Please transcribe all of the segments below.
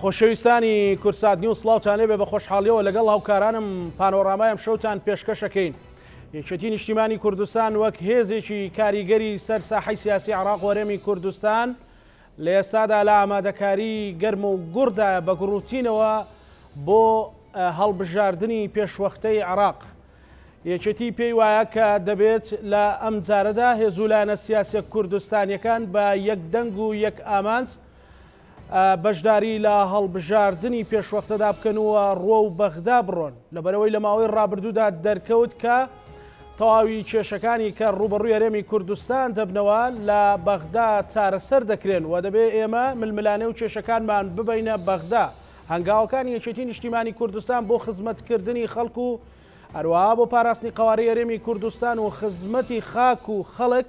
خۆشەویستانی کورسات نیو سڵاوتان لێبێ بە خۆشحاڵیەوە لەگەڵ هاوکارانم پانۆرامای ئەم شەوتان پێشکەشەکەین یەکێتی نیشتیمانی کوردستان وەک هێزێکی کاریگەری سەر ساحی سیاسی عراق وەرێمی کوردستان لە ئێستادا لە ئامادەکاری گەرم و گوڕدا بە گوڕوتینەوە بۆ هەڵبژاردنی پێشوەختەی عراق یەکێتی پێی وایە کە دەبێت لە ئەم جارەدا هێزولانە سیاسە کوردستانیەکان بە یەک دەنگ و یەک ئامانج بەشداری لە هەڵبژاردنی پێشوەختەدا بکەن و ڕۆ و بەغدا بڕۆن لەبەرەوەی لە ماوەی ڕابردوودا دەرکەوت کە تەواوی کێشەکانی کە ڕوبەڕوی هەرێمی کوردستان دەبنەوە لە بەغدا چارەسەر دەکرێن و دەبێ ئێمە ململانێ و کێشەکانمان ببینە بەغدا هەنگاوەکانی یەکێتی نیشتیمانی کوردستان بۆ خزمەتکردنی خەڵک و هەروەها بۆ پاراستنی قوارەی هەرێمی کوردستان و خزمەتی خاک و خەڵک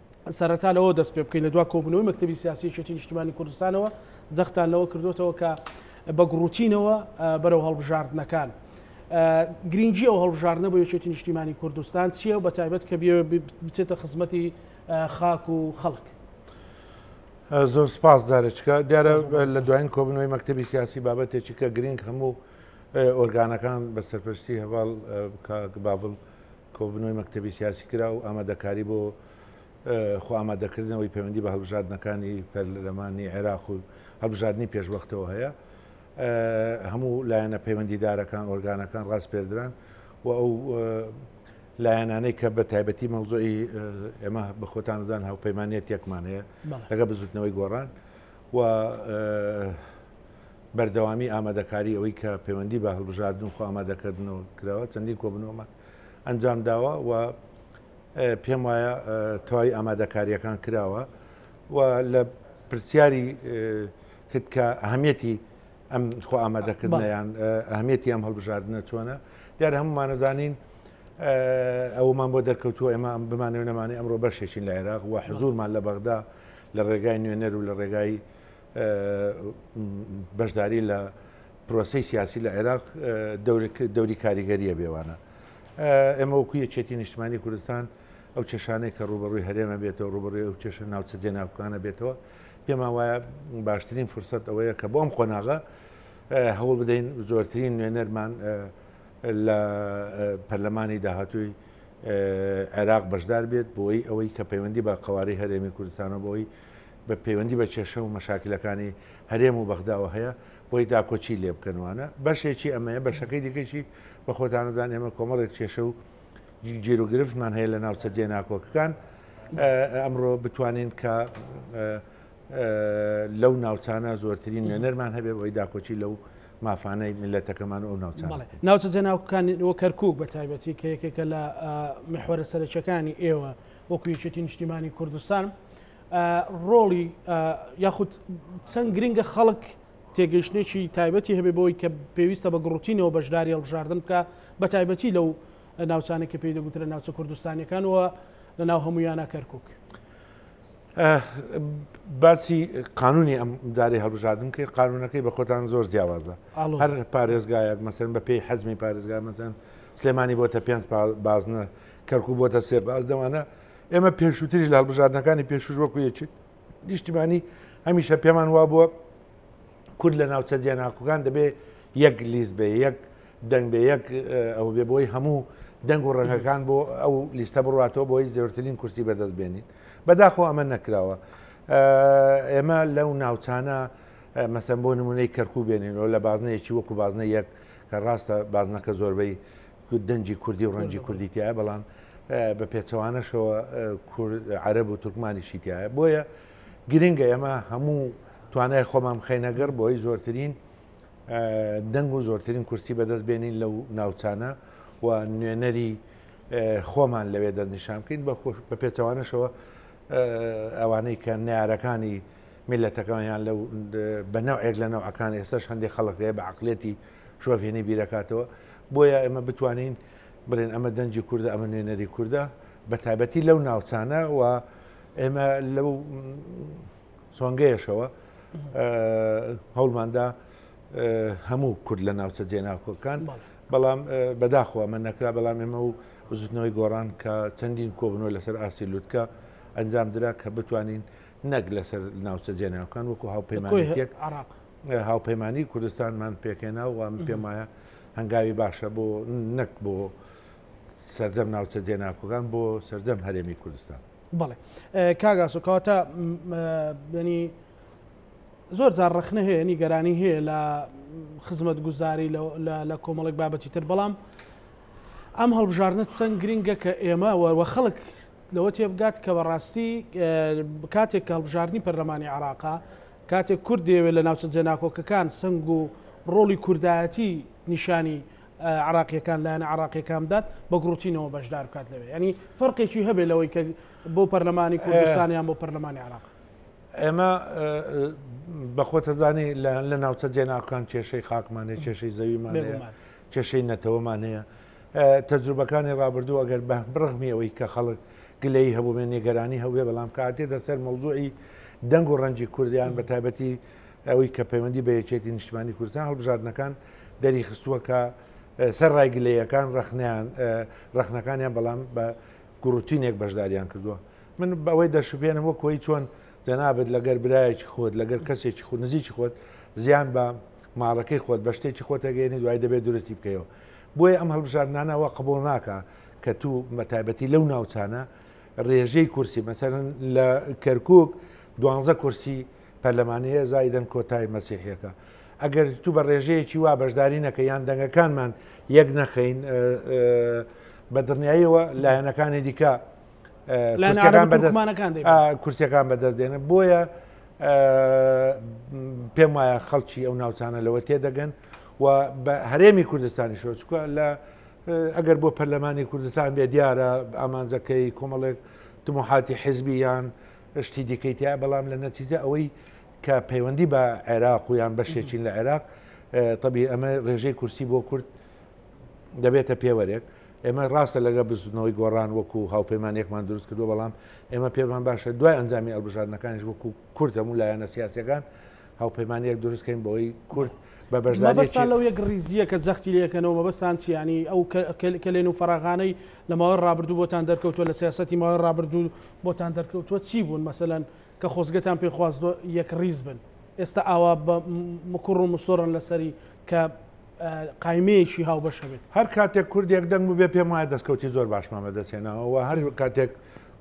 سەرەتا لەوە دەست پێ بکەین لە دوا کۆبوونەوەی مەکتتەبی سیاسی یەکێتی نیشتیمانی کوردستانەوە جەختان لەوە کردوێتەوە کە بە گوڕوتینەوە بەرەو هەڵبژاردنەکان. گرنگجی ئەو هەڵبژاردنە بۆ یەکێتی نیشتیمانی کوردستان چییە و بە تایبەت کە بچێتە خزمەتی خاک و خەڵک. زۆر سپاس دارچکە دیارە لە دوایین کۆبنەوەی مەکتتەبی سیاسی بابەتێکی کە گرنگ هەموو ئۆرگانەکان بە سەرپەرشتی هەواڵ باڤڵ کۆبوونەوەی مەکتەبی سیاسی کرا و ئامادەکاری بۆ خۆئامادەکردنەوەی پەیوەندی بە هەڵبژاردنەکانی پەرلەمانی عێراق و هەڵبژاردننی پێشوەختەوە هەیە هەموو لایەنە پەیوەندیدارەکان ئۆرگانەکان ڕاستپێردران و ئەو لایەنانەی کە بە تایبەتی مەوزۆی ئێمە بە خۆتانزان هاوپەیمانەتێکمان هەیە لەگە بزوتنەوەی گۆڕان و بەردەوامی ئامادەکاری ئەوەی کە پەیوەندی بە هەڵبژاردن و خۆ ئامادەکردنەوە کراوە چەندین کۆبنەوەمان ئەنجام داوە و پێم وایە تەواوی ئامادەکاریەکان کراوە و لە پرسیاری کرد کە ئەهمیەتی ئەم خۆ ئامادەکردنیان ئەهمیەتی ئەم هەڵبژاردنە چۆنە دیار هەمومانەزانین ئەومان بۆ دەرکەوتووە ئێمە بمانەوە نەمانی ئەمڕۆ بەشێکین لە عێراق و حزورمان لە بەغدا لە ڕێگای نوێنەر و لە ڕێگای بەشداری لە پرۆسی سیاسی لە عێراق دەوری کاریگەریە بێوانە ئێمە وەکو یەکێتی نیشتمانی کوردستان ئەو کێشانەی کە ڕوبەڕووی هەرێمە بێتەوە ڕوبڕی ئەو کێشە ناوچە جێناوکانە بێتەوە پێمان وایە باشترین فرسەت ئەوەیە کە بۆم قۆناغە هەوڵ بدەین زۆرترین نوێنەرمان لە پەرلەمانی داهاتووی عێراق بەشدار بێت بۆی ئەوەی کە پەیوەندی بە قواری هەرێمی کوردستانە بۆی بە پەیوەندی بە کێشە و مەشاکلەکانی هەرێم و بەغداوە هەیە بۆی داکۆچی لێ بکەن وانە بەشێکی ئەمەیە بەشەکەی دیکەشی بە خۆتانەدان ئێمە کۆمەڵێک کێشە و جیر و گرفتمان هەیە لە ناوچە جێ ناکۆکەکان ئەمڕۆ بتوانین کە لەو ناوچانە زۆرترین نوێنەرمان هەبێ بۆی داکۆچی لەو مافانەی میلەتەکەمان و ئەو ناوچان ناوچە جێناوکانی وە کەرکک بە تایبەتی کە یەکێکە لە محوەرە سەرچەکانی ئێوە وەکو یەکێتی نیشتیمانی کوردستان ڕۆڵی یاخود چەند گرنگە خەڵک تێگەیشتێکی تایبەتی هەبێ بۆی کە پێویستە بە گڕوتینەوە بەشداری هەڵبژاردن بکە بە تایبەتی لەو ناوچانە کە پێی دەگوترە ناوچە کوردستانەکان وە لە ناو هەمویانە کەرکک. باسی قانونی ئەم داری هەڵبژاردن کرد قانونەکەی بە خۆتان زۆر جیاوازە هەر پارێزگایەک مەسەن بە پێی حەزمی پارێزگا مەسەن سلێمانی بۆتە پێنج بازنە کەرکوک بۆتە سێ باز دەوانە ئێمە پێشووتریش لە هەڵبژاردنەکانی پێشوش وەکو یەکێت نیشتیمانی هەمیشە پێمان وا بووە کورد لە ناوچە جێناکوکان دەبێ یەک لیست بێ یەک دەنگ بێ یەک ئەو بێ بۆی هەموو دەنگ و ڕەنگەکان بۆ ئەو لیستە بڕاتەوە بۆی زۆرترین کورسی بەدەست بێنین بەداخۆ ئەمە نەکراوە ئێمە لەو ناوچانە مەسم بۆ نمونەی کەرکوو بێنینەوە لە بازنەیەکی وەکو بازنە یەک کە ڕاستە بازنەکە زۆربەی دەنجی کوردی و ڕەنجی کوردی تایە بەڵام بە پێچەوانەشەوە عەرب و تورکمانیشی تایە بۆیە گرنگە ئێمە هەموو توانای خۆمان خەینەگەڕ بۆی زۆرترین دەنگ و زۆرترین کورسی بەدەست بێنین لەو ناوچانە و نوێنەری خۆمان لەوێ دەستنیشان بکەین بە پێچەوانەشەوە ئەوانەی کە نارەکانی میللەتەکەمان یان لەو بە نەوعێک لە نەوعەکان ئێستاش هەندێک خەڵک هەیە بە عقلێتی شۆڤێنی بیرەکاتەوە بۆیە ئێمە بتوانین بڵێن ئەمە دەنجی کووردە ئەمە نوێنەری کووردە بە تایبەتی لەو ناوچانە و ئێمە لەو سۆنگەیەشەوە هەوڵماندا هەموو کورد لە ناوچە جێناکۆکان بەڵام بەداخوا من نەکرا بەڵام ئێمە و بزوتنەوەی گۆڕان کە چەندین کۆبنەوە لەسەر ئاسی لوتکە ئەنجام درا کە بتوانین نەک لەسەر ناوچە جێناوکان وەکو هاوپەیمانێک عراق هاوپەیمانانی کوردستانمان پێکێنا و پێم وایە هەنگاوی باشە بۆ نەک بۆ سەردەم ناوچە جێناکۆگان بۆ سەردەم هەرێمی کوردستان بڵێ کاگاس و کەواتە بەنی زۆر جار ڕخنە هەیە نیگەرانی هەیە لە خزمەت گوزاری لە کۆمەڵێک بابەتی تر بەڵام ئەم هەڵبژاردنە چەند گرنگە کە ئێمە وەوە خەڵک لەوە تێبگات کە بەڕاستی کاتێک کە هەڵبژاردنی پەرلەمانی عێراقا کاتێک کورد دەیەوێت لە ناوچە جێناکۆکەکان سنگ و ڕۆڵی کوردایەتی نیشانی عراقیەکان لایەن عراقیەکان بدات بە گروتینەوە بەشدار بکات لەوێ ینی فەرقێکی هەبێ لەوەی کە بۆ پەرلەمانی کوردستانیان بۆ پەرلەمانی عراق ئێمە بەخۆتەزانی لە ناوچە جێناکان کێشەی خاکمانێ کێشەی زەویمانەیە کێشەی نەتەوەمانەیە تەجروبەکانی ڕابردوو ئەگەر بە بڕغمی ئەوەی کە خەڵک گلەی هەبووێ نێگەرانی هەوێ بەڵام کاتێ دەسەر مەوزوعی دەنگ و ڕەنجی کوردیان بە تایبەتی ئەوەی کە پەیوەندی بە یەکێتی نیشتمانی کوردستان هەڵبژاردنەکان دەریخستووە کە سەر ڕای گلەیەکان ڕخنیان ڕخنەکانیان بەڵام بە گوڕوتینێک بەشداریان کردووە من بەوەی دەشبێنم وە کۆی چۆن جەنابەت لەگەر برایەکی خۆت لەگەر کەسێکی خو نزیکی خۆت زیان بە ماڵەکەی خۆت بە شتێکی خۆتەگەێنی دوای دەبێت درستی بکەیەوە بۆیە ئەم هەڵبژاردنانە وا قبوڵ ناکا کە توو بە تایبەتی لەو ناوچانە رێژەی کورسی مەسەلەن لە کەرکوک دوانزە کورسی پەرلەمانەیە زایدەن کۆتای مەسیحیەکە ئەگەر توو بە رێژەیەکی وا بەشداری نەکە یان دەنگەکانمان یەک نەخەین بە دڵنیاییەوە لایەنەکانی دیکە کورسەکان بەدەست دێنن بۆیە پێم وایە خەڵکی ئەو ناوچانە لەوە تێدەگەن و بە هەرێمی کوردستانی شۆچکە لە ئەگەر بۆ پەرلەمانی کوردستان بێ دیارە ئامانجەکەی کۆمەڵێک تموحاتی حزبیان شتی دیکەی تیا بەڵام لە نەتیجە ئەوەی کە پەیوەندی بە عێراق و یان بەشێکین لە عێراق طبی ئەمە ڕێژەی کورسی بۆ کورد دەبێتە پێوەرێک ئێمە ڕاستە لەگەڵ بزوتنەوەی گۆڕان وەکو هاوپەیمانێکمان دروست کردووە، بەڵام ئێمە پێمان باشە دوای ئەنجامی هەڵبژاردنەکانیش وەکو کورد هەموو لایەنە سیاسیەکان هاوپەیمانیەک دروست کەین بۆی کورد بە بەشداری مەبەستان لەو یەک ڕیزیە کە جەختی لێ ئەکەنەوە مەبەستان چیە یانی ئەو کەلێن و فەراغانەی لە ماوەی ڕابردوو بۆتان دەرکەوتووە لە سیاسەتی ماوەی ڕابردوو بۆتان دەرکەوتووە چی بوون مەسەلەن کە خۆزگەتان پێ خواست یەک ڕیز بن ئێستا ئاوا بە مکوڕ و مسۆڕن لەسەری کە قایمەیەکی هاوبەش هەبێت. هەر کاتێک کورد یەکدەنگ بووبێ پێم وایە دەستکەوتی زۆر باشمان بەدەست هێناوە و هەر کاتێک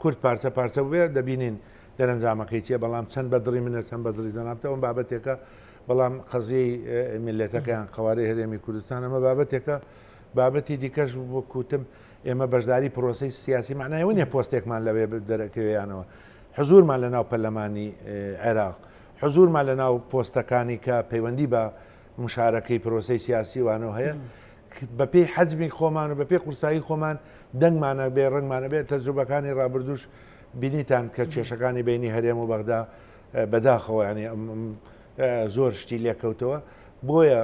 کورد پارچە پارچە بووبێ دەبینین دەرەنجامەکەی چییە، بەڵام چەند بە دڵی منە چەند بە دڵی جەنابتە ئەوە بابەتێکە، بەڵام قەزیەی میللەتەکە یان قەوارەی هەرێمی کوردستان ئەمە بابەتێکە، بابەتی دیکەش وەک وتم ئێمە بەشداری پرۆسەی سیاسی مەعنای ئەوە نییە پۆستێکمان لەوێ دەرەکەوێ یانەوە، حزوورمان لەناو پەرلەمانی عێراق حزورمان لە ناو پۆستەکانی کە پەیوەندی بە مشارەکەی پرۆسەی سیاسی وانەوە هەیە بەپێی حەجمی خۆمان و بەپێی قورسایی خۆمان دەنگمانە بێ ڕنگمانە بێت تەجروبەکانی ڕابردوش بینیتان کە کێشەکانی بینی هەرێم و بەغدا بەداخەوە ینی زۆر شتی لێکەوتەوە بۆیە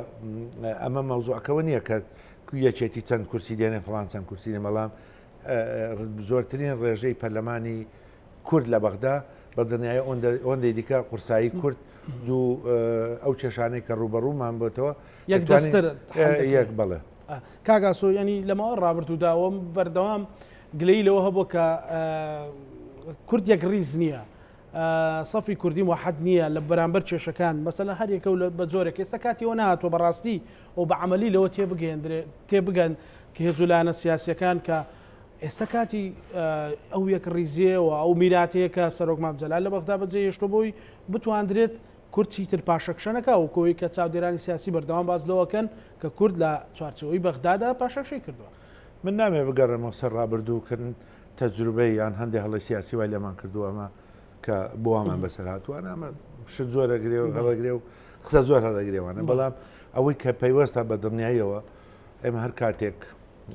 ئەمە مەوزوعەکەەوە نییە کە یەکێتی چەند کورسی دێنێ فلان چەند کورسی دێ بەڵام زۆرترین ڕێژەی پەرلەمانی کورد لە بەغدا بە دنیای ئۆندەی دیکە قورسایی کورد دوو ئەو کێشانەی کە ڕوبەڕوومان بۆتەوە یەک بڵێ کاگاسۆ ینی لەمەوە ڕابرد و داوەم بەردەوام گلەی لەوە هەبوو کە کورد یەک ڕیز نییە سەفی کوردی وحد نییە لە بەرامبەر کێشەکان مەسەن هەرێکە و بە جۆرێک ئێستا کاتیەوە نهاتوە بەڕاستی و بە عملی لەوە تێبگەندرێ تێبگەن کە هێزولانە سیاسەکان کە ئێستا کاتی ئەو یەکڕیزییە و ئەو میراتەیە کە سەرۆک مام جەلال لە بەغدا بەجێهێشتووە بۆی بتواندرێت کورد چیتر پاشەکشە نەکا و کۆی کە چاودێرانی سیاسی بەردەوام باس لەوەکەن کە کورد لە چوارچێوەی بەغدادا پاشەکشەی کردووە. من نامەوێت بگەڕێمەوە سەر ڕابردوو کە تەجروبەی یان هەندێک هەڵەی سیاسی وای لێمان کردووە ئەمە کە بۆوامان بەسەر هاتووانە ئەمە شت زۆر ئەگرێ و هەڵەگرێ و قسە زۆر هەڵەگرێوانە بەڵام ئەوەی کە پەیوەستە بە دڵنیاییەوە ئێمە هەر کاتێک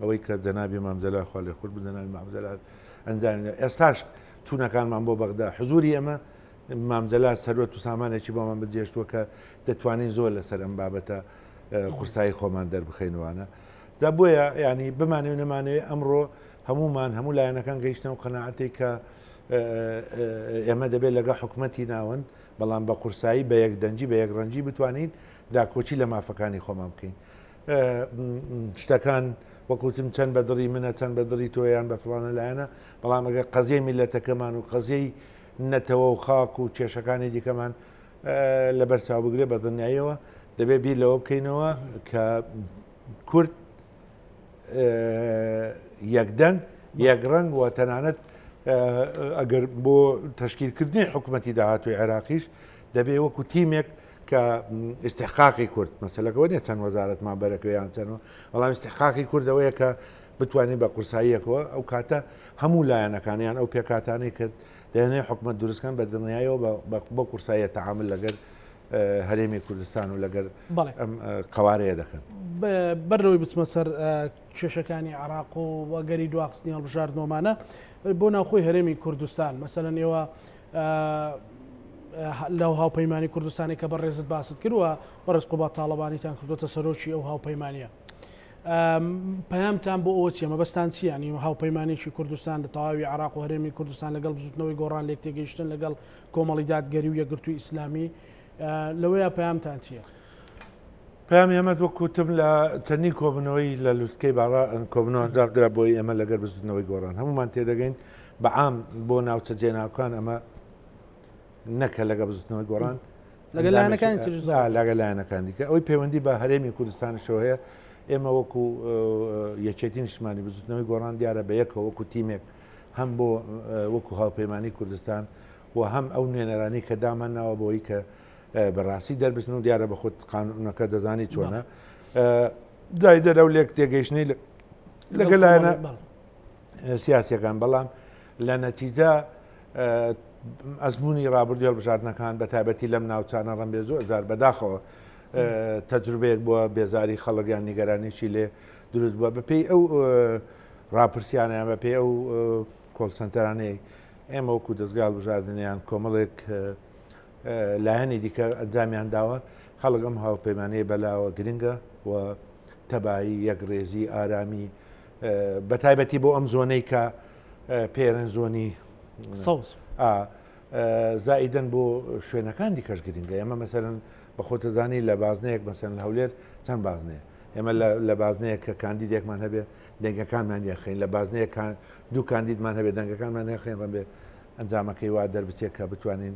ئەوەی کە جەنابی مام جەلال خوا لێ خۆش بن جەنابی مام جەلال ئەنجامی دا. ئێستاش چوونەکانمان بۆ بەغدا حزووری ئێمە مام جەلال سەروەت و سامانێکی بۆمان بجێشتووە کە دەتوانین زۆر لەسەر ئەم بابەتە اه، قورسایی خۆمان دەربخەینوانە جا بۆیە ینی بمانێ و نەمانەوێ ئەمڕۆ هەمومان هەموو لایەنەکان گەیشتن و قەنەعەتی کە اه، اه، ئێمە دەبێت لەگە حکومەتی ناوەند بەڵام بە قورسایی بە یەک دەنجی بە یەک ڕەنجی بتوانین داکۆچی لە مافەکانی خۆمان بکەین شتەکان وەکوتم چەند بە دڵی منە چەند بە دڵی تۆیان بە فلانە لایەنە بەڵام ئەگە قەزیەی میلەتەکەمان و قەزیەی نەتەوە و خاک و کێشەکانی دیکەمان لە بەرچاو بگرێ بە دڵنیاییەوە دەبێت بیر لەوە بکەینەوە کە کورد یەکدەنگ یەک ڕنگ و تەنانەت ئەگەر بۆ تشکیلکردنی حکوومەتی داهاتوی عێراقیش دەبێ وەکو تیمێک کە ئیستحقاقی کورد مەسەلەکە ئەوە نیە چەند وەزارەتمان بەرە کوێ یان چەند و، بەڵام ئیستحقاقی کورد ئەوەیە کە بتوانین بە قورساییەکەوە ئەو کاتە هەموو لایەنەکانیان ئەو پێکهاتانەی کە دەیانەوێت حکومەت دروستکەن بە دڵنیایەوە بە- بە- بۆ قورساییە تەعامل لەگەر اه، هەرێمی کوردستان و لەگەر بەڵێ. ئەم اه، قەوارەیە دەکەن ب- بەر لەوەی بچمە سەر اه، کێشەکانی عێراق و وەگەری دواخستنی هەڵبژاردنەوەمانە اه، بۆ ناوخۆی هەرێمی کوردستان مەسەلەن ئێوە لەو هاوپەیمانی کوردستانی کە بەڕێزت باست کرد و بەڕێز قوبات تاڵەبانیتان کردوتە سەرۆکی ئەو هاوپەیمانە پامتان بۆ ئەوە چیە مەبەستان چیانی و هاوپەیمانێکی کوردستان لە تەواوی عراق و هەرێمی کوردستان لەگەڵ بزوتنەوەی گۆڕان لێک تێگەیشتن لەگەڵ کۆمەڵی دادگەری و یەگرتوو ئیسلامی لەوەیە پامتان چییە؟ پامی ئەمە وەک کوتم لە تەنی کۆبنەوەی لە لوتکەی باڕا کۆبنەوە ئەنجام درا بۆی ئێمە لەگەر بزنەوەی گۆڕان هەمومان تێدەگەین بە عام بۆ ناوچە جێناوکان ئەمە نەکە لەگە بزوتنەوەی گۆڕان لەگە لایەنەکان لەگە لایەنەکان دیکە ئەوی پەیوەندی بە هەرێمی کوردستانشەوە هەیە ئێمە وەکو یەکێتی نیشتمانی بزوتنەوەی گۆڕان دیارە بە یەکەوە وەکو تیمێک هەم بۆ وەکو هاوپەیمانانی کوردستان و هەم ئەو نوێنەرانی کە دامان ناوە بۆی کە بەڕاستی دەربچن و دیارە بە خۆت قانونەکە دەزانی چۆنە دای دەرە و لێک تێگەیشتنی لەگەلایەنە سیاسیەکان بەڵام لە نەتیجە ئەزمموی رابردی هەڵبژاردنەکان بە تایبەتی لەم ناوچانە ڕم بێ زۆر زار بەداخەوە تەجروبەیەک بووە بێزاری خەڵگیان نیگەرانیشی لێ دروست بووە بەپی ئەو راپرسیانیان بە پێ ئەو کۆلسەنتەرانەی ئێمە وەکو دەستگال بژاردنیان کۆمەڵێک لایەنی دیکە ئەنجامیان داوە خەڵگەم هاوپەیمانەیە بەلاوە گرنگە و تەبایی یەک ڕێزی ئارامی بەتایبەتی بۆ ئەم زۆنەی کە پێرن زۆنی سەوز زائیدن بۆ شوێنەکان دیکەش گرنگە ئێمە مەسەرن بە خۆتەزانی لە بازنەیەک بەسەن هەولێر چەند بازنەیە ئێمە لە بازنەیە کە کاندیدێکمان هەبێ دەنگەکانمان یاخین لە بازنەیەکان دوو کاندیدمان هەبێ دەنگەکانمان یاخین ڕەبێ ئەنجامەکەی وا دەربچێت کە بتوانین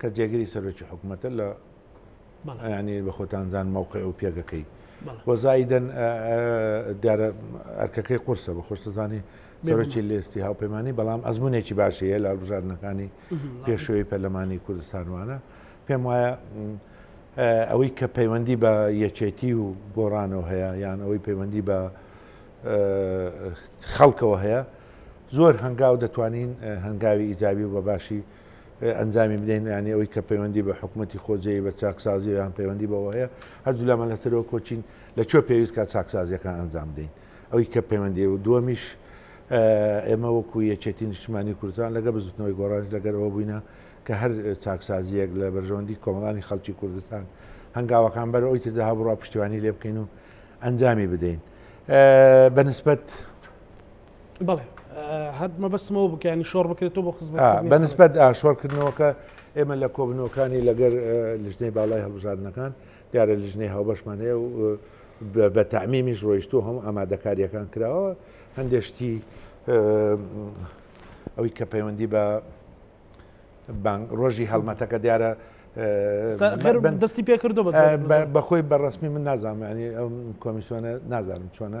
کە جێگری سەرۆکی حکوومەتە لە ینی بە خۆتانزان مەوقع و پێگەکەی وەزایدەن دیارە ئەرکەکەی قورسە بە خۆشتەزانی سەرۆکی لێستی هاوپەیمانانی بەڵام ئەزمونێکی باشەیە لە بژاردنەکانی پێشوەی پەرلەمانی کوردستانوانە پێم وایە ئەوەی کە پەیوەندی بە یەکێتی و گۆڕانەوە هەیە یان ئەوەی پەیوەندی بە خەڵکەوە هەیە زۆر هەنگاو دەتوانین هەنگاوی ئیزاوی و بە باشی ئەنجامی بدەین یانی ئەوەی کە پەیوەندی بە حکوومەتتی خۆجێی بە چاکسازی یان پەیوەندی بەوە هەیە هەردوو لامان لەسەرەوە کۆچین لە چۆ پێویست کا چاکسازیەکان ئەنجام دەین ئەوی کە پەیوەندی و دووەمیش ئێمە وەکو یەکێتی نیشتمانی کوردستان لەگە بزوتنەوەی گۆڕان لەگەرەوە بووینە کە هەر چاکسازیەک لە بەرژەوەندی کۆمەڵانی خەڵکی کوردستان هەنگاوەکان بەر ئەوی تردا هەبڕا پشتیوانی لێ بکەین و ئەنجامی بدەین بەنسبەت بەڵێ هەر مەبەستمەوە بکەنی شۆڕ بکرێتەوە بۆ خزم بەنسبەت ئاشۆرکردنەوەکە ئێمە لە کۆبنەوەکانی لەگەر لژنەی باڵای هەڵبژاردنەکان دیارە لژنەی هاوبەشمان هەیە و بە تامیمیش ڕۆیشت و هەم ئامادەکاریەکان کراوە هەندێشتی ئەوی کە پەیوەندی بە ڕۆژی هەڵمەتەکە دیارە دەستی پێکردو بەخۆی بەڕسمی من نازانانی ئەم کۆمیسیۆنە نازانم چۆنە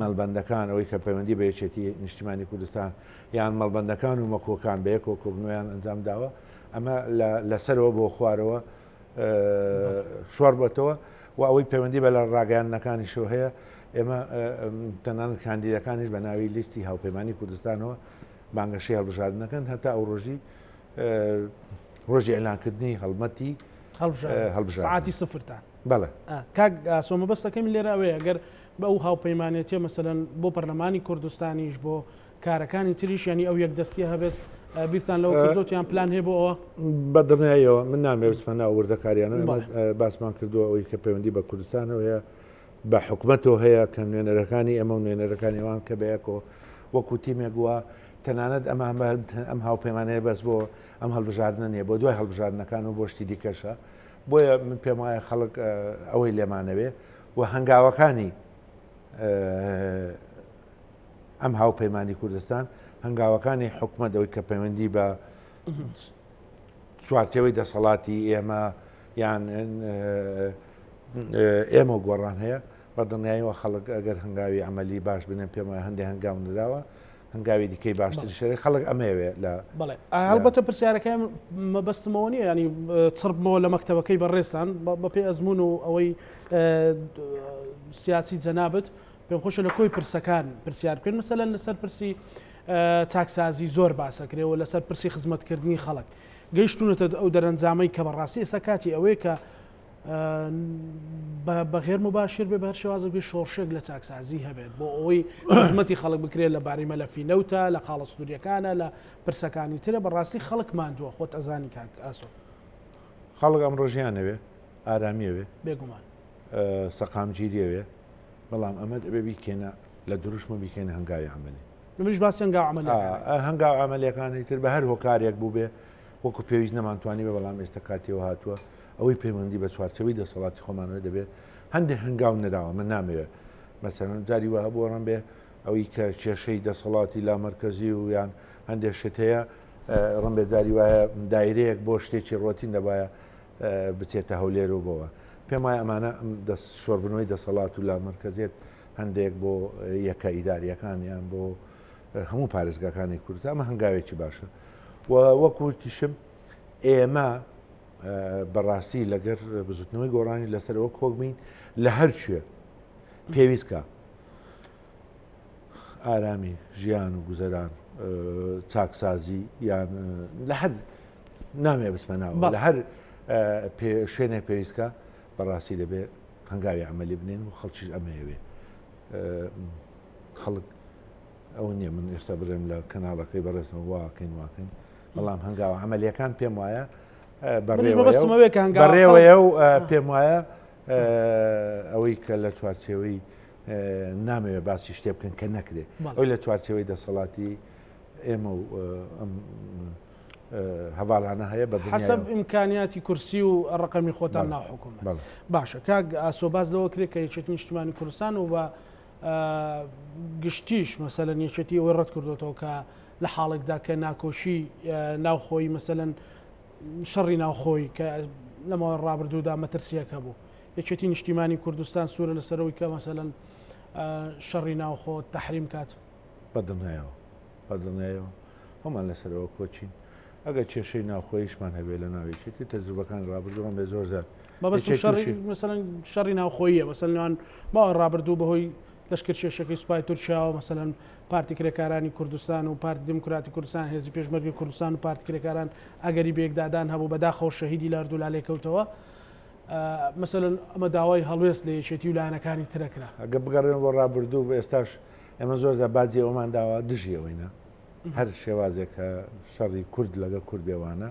مەڵبەندەکان، ئەوەی کە پەیوەندی بە یەکێتی نیشتیمانی کوردستان یان مەڵبەندەکان و مەکۆکان بە یەکەوە کۆبنەوەیان ئەنجام داوە، ئەمە لە سەرەوە بۆ خوارەوە شۆڕ بەتەوە و ئەوەی پەیوەندی بە لە ڕاگەاندنەکانیشەوە هەیە ئێمە تەنان کاندیدەکانیش بە ناوی لیستی هاوپەیمانانی کوردستانەوە بانگەشی هەڵبژاردنەکەن هەتا ئەو ڕۆژی ڕۆژی ئەلانکردنی هەڵمەتی هەڵبژاتی سفرتان. بەڵێ کاک ئاسۆ مەبەستەکەم لێرە ئەوەیە گەر بە ئەو هاوپەیمانێتیە مەسەن بۆ پەرلەمانی کوردستانیش بۆ کارەکانی تریش ینی ئەو یەک دەستی هەبێت بیرتان لەوە کردوتیان پلان هەیە بۆ ئەوە بە دڵنیایەوە من نامێوتمە ناوردەکاریانە باسمان کردووە ئەوی کە پەیوەندی بە کوردستانەوە هەیە بە حکومەتەوە هەیە کە نوێنەرەکانی ئەمە و نوێنەرەکانی ئەوان کە بەیەکەوە وەکو تیمێک وە تەنانەت ئەمان ئەم هاوپەیمانەیە بەس بۆ ئەم هەڵبژاردنە نیە بۆ دوای هەڵبژاردنەکان و بۆشتی دیکەشە بۆیە من پێم وایە خەڵک ئەوەی لێمانەوێ و هەنگاوەکانی ئەم هاوپەیمانانی کوردستان هەنگاوەکانی حکومت ئەوی کە پەیوەندی بە چوارچەوەی دەسەڵاتی ئێمە یان ئێمە گۆڕان هەیە بە دڵنیاییەوە خەڵک ئەگەر هەنگاوی ئەمەلی باش بنێن پێم وایە هەندێک هەنگاو نراوە هەنگاوی دیکەی باشتری شەری خەڵک ئەمەوێ لە بڵێ هەڵبەتە پرسیارەکەم مەبەستمەوە نیە ینی چڕبمەوە لە مەکتتەبەکەی بەڕێستان بەپی ئەزمون و ئەوەی سیاسی جەنابەت پێم خۆشە لە کۆی پرسەکان پرسیار بکەن مەسەلەن لەسەر پرسی چاکسازی زۆر باسەکرێەوە لەسەر پرسی خزمەتکردنی خەڵک گەیشتونەتە ئەو دەرەنجامەی کە بەڕاستی ئێستا کاتی ئەوەیە کە بەغێر مباشر بێ بەر شێوازە بێ شۆڕشێک لە چاکسازی هەبێت بۆ ئەوەی خزمەتی خەڵک بکرێت لە باری مەلەفی نەوتە لە قاڵە سنووریەکانە لە پرسەکانی ترە بەڕاستی خەڵک مادووە خۆت ئەزانی کاک ئاسۆ خەڵک ئەم ڕۆژیانەوێ ئارامیەوێ بێگومان سەقامگیریەوێ بەڵام ئەمە ئەبێ بیکەێنە لە دروشمە بیکەێنە هەنگاوی ئەمەێ منش باس هەنگا هەنگا ئەمەلەکانی تر بە هەر هۆکارێک بوو بێ وەکو پێویست نەمانتوانی بە بەڵام ئێستا کاتیەوە هاتووە ئەوەی پەیوەندی بە چوارچێوەی دەسەڵاتی خۆمانەوە دەبێت هەندێک هەنگاو نراوە من نامەوێت مەسەرەن جاری وە هەبوو ڕم بێ ئەوەی کە کێشەی دەسەڵاتی لا مرکزی و یان هەندێک شت هەیە ڕم بێ جاری وایە دایرەیەک بۆ شتێکی ڕۆتین دەبایە بچێتە هەولێر و بۆەوە پێم وایە ئەمانە ئەم دەست شۆربنەوەی دەسەڵات و لا مرکزێت هەندێک بۆ یەکە ئیداریەکانیان بۆ هەموو پارێزگاکانی کورتە ئەمە هەنگاوێکی باشە وەکوکیشم ئێمە بەڕاستی لەگەر بزوتنەوەی گۆڕانی لەسەرەوە کۆک بین لە هەر کوێ پێویستکە ئارامی ژیان و گوزەران چاکسازی یان لە هەر نامێ بسمەناوە لە هەر شوێنێک پێویستکە بەڕاستی دەبێت هەنگاوی ئەمەلی بنێن و خەڵکیش ئەمەیەوێ خەڵک ئەوە نییە من ئێستا بڵێم لە کەناڵەکەی بەڕێزم واکەین واکەین بەڵام هەنگاوە عملیەکان پێم وایە بەڕێوەیە و پێم وایە ئەوەی کە لە چوارچێوەی نامەوێت باسی شتێ بکەن کە نەکرێت ئەوی لە چوارچەوەی دەسەڵاتی ئێمە و ئەم هەواڵانە هەیە بە حسب ئیمکانیاتی کورسی و ڕقەمی خۆتان ناحکوم باشە کاک ئاسۆباز لەوە کرێت کە یەکێت نیشتمانی کوردستان و بە گشتیش مەسەلەن یەکێتی ئەوەی ڕەت کردوێتەوە کە لە حاڵێکدا کە ناکۆشی ناوخۆی مەسەن شەڕی ناوخۆی کە لەمە ڕابردوودا مەترسیەکە بوو یەکێتی نیشتیمانی کوردستان سوورە لە سەرەوەی کە مەسەن شەڕی ناوخۆ تحریم کات بەدڵنیایەوە بەدڵنیایەوە هەمان لەسەرەوە کۆچین ئەگەر کێشەی ناوخۆیشمان هەبێ لە ناوێکێتی تەجروبەکان ڕابردووان بێ زۆر زیاد مەبەستم شەڕی مەسەلەن شەڕی ناوخۆییە مەسەل نوان ماوە ڕابردوو بەهۆی لەشکر شێشەکەی سوپای تورکیاوە مەسەلەن پارتی کرێکارانی کوردستان و پارتی دموکراتی کوردستان هێزی پێشمەرگی کوردستان و پارتی کرێکاران ئەگەری بێکدادان هەبوو بەداخەوە شەهیدی لاردو لا لێکەوتەوە مەسەلەن ئەمە داوای هەڵوێست لە یەکێتی و لایەنەکانی ترەکرا ئەگە بگەڕێن بۆ ڕابردوو بە ئێستاش ئێمە زۆر زە باجی ئەومان داوا دژیەوەینە هەر شێوازێکە شەڕی کورد لەگە کورد بێوانە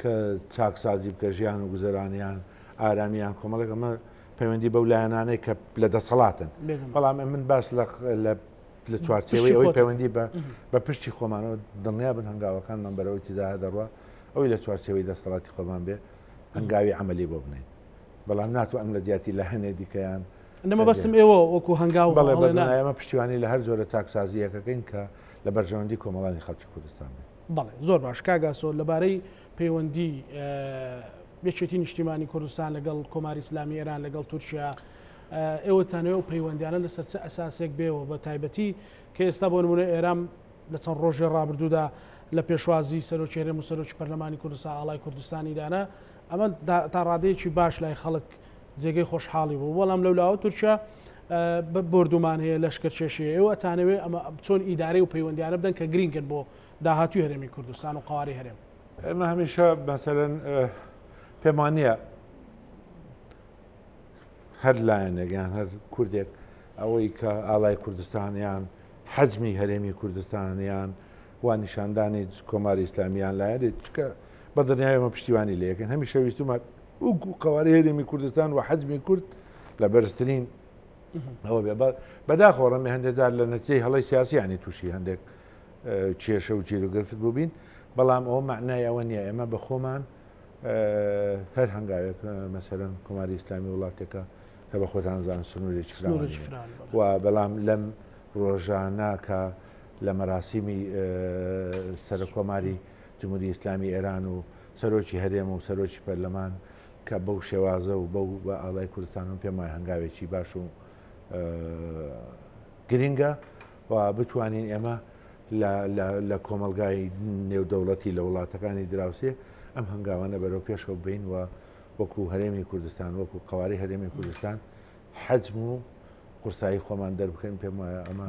کە چاکسازی بکە ژیان و گوزەرانیان ئارامیان کۆمەڵێک ئەمە پەیوەندی بەو لایەنانەی کە لە دەسەڵاتن بەڵام من باس لە چوارچەوەی ئەوەی پەیوەندی بە بە پشتی خۆمانەوە دڵنیا بن هەنگاوەکانمان بەرەوەی تیدا دەڕوە ئەوی لە چوارچەوەی دەسەڵاتی خۆمان بێ هەنگاوی عملی بۆ بنین بەڵام ناتو ئەم لە جیاتی لە هەنێ دیکەیان نەمە بەسم ئێوە وەکو هەنگاو بەڵێ ئەمە پشتیوانی لە هەر جۆرە چاکسازیەکەکەین کە لە بەرژەوەندی کۆمەڵانی خەڵکی کوردستان بێت بەڵێ زۆر باش کاک ئاسۆ لەبارەی پەیوەندی یەکێتی نیشتیمانی کوردستان لەگەڵ کۆماری ئسلامی ئێران لەگەڵ تورکیا ئێوە تانەوە و پەیوەندیانە لەسەر چ ئەساسێک بێەوە بە تایبەتی کە ئێستا بۆ نمونە ئێرام لە چەند ڕۆژێ ڕابردوودا لە پێشوازی سەرۆکێرە و سەرۆکی پەرلەمانی کوردستان ئاڵای کوردستانیدانە ئەمە تا ڕادەیەکی باش لای خەڵک جێگەی خۆشحاڵی بوو بەڵام لەولاوە تورکیا بردومان هەیە لەشکرکێشی ئێوە ئەتانەوێ ئەمە چۆن ئیدارەی و پەیوەندیانە بدەن کە گرینگن بۆ داهاتوی هەرێمی کوردستان و قواری هەرێم ئێمە هەمیشە بەسەرەن پێمان نییە هەر لایەنێک یان هەر کوردێک ئەوەی کە ئالای کوردستانیان حەجمی هەرێمی کوردستانیان وا نیشاندانی کۆماری ئیسلامیان لایەنێت چکە بە دڵنیایی ئێمە پشتیوانی لێ یەکەین، هەمیشە ویستومان وەکو قەوارەی هەرێمی کوردستان و حەجمی کورد لە بەرزترین ئەوە بێ بە بەداخۆ ڕەمی هەندێکدار لە نەتیجەی هەڵی سیاسیانی تووشی هەندێک کێشە و چیر و گرفت بووبین بەڵام ئەوە معنای ئەوە نییە ئێمە بە خۆمان هەر هەنگاوێک مەسەرەن کۆماری ئیسلامی وڵاتێکە کە بە خۆتانزان سنوورێکی و بەڵام لەم ڕۆژانە کە لە مەراسیمی سەرکۆماری جمهوری ئیسلامی ئێران و سەرۆکی هەرێم و سەرۆکی پەرلەمان کە بەو شێوازە و بەو بە ئاڵای کوردستان و پێم وای هەنگاوێکی باش و گرنگە و بتوانین ئێمە لە کۆمەلگای نێودەوڵەتی لە وڵاتەکانی دراوسێ ئەم هەنگاوانە بەرەو پێشەوە بین و وەکو هەرێمی کوردستان وەکو قواری هەرێمی کوردستان حەجم و قورسایی خۆمان دەربکەین پێم وایە ئەمە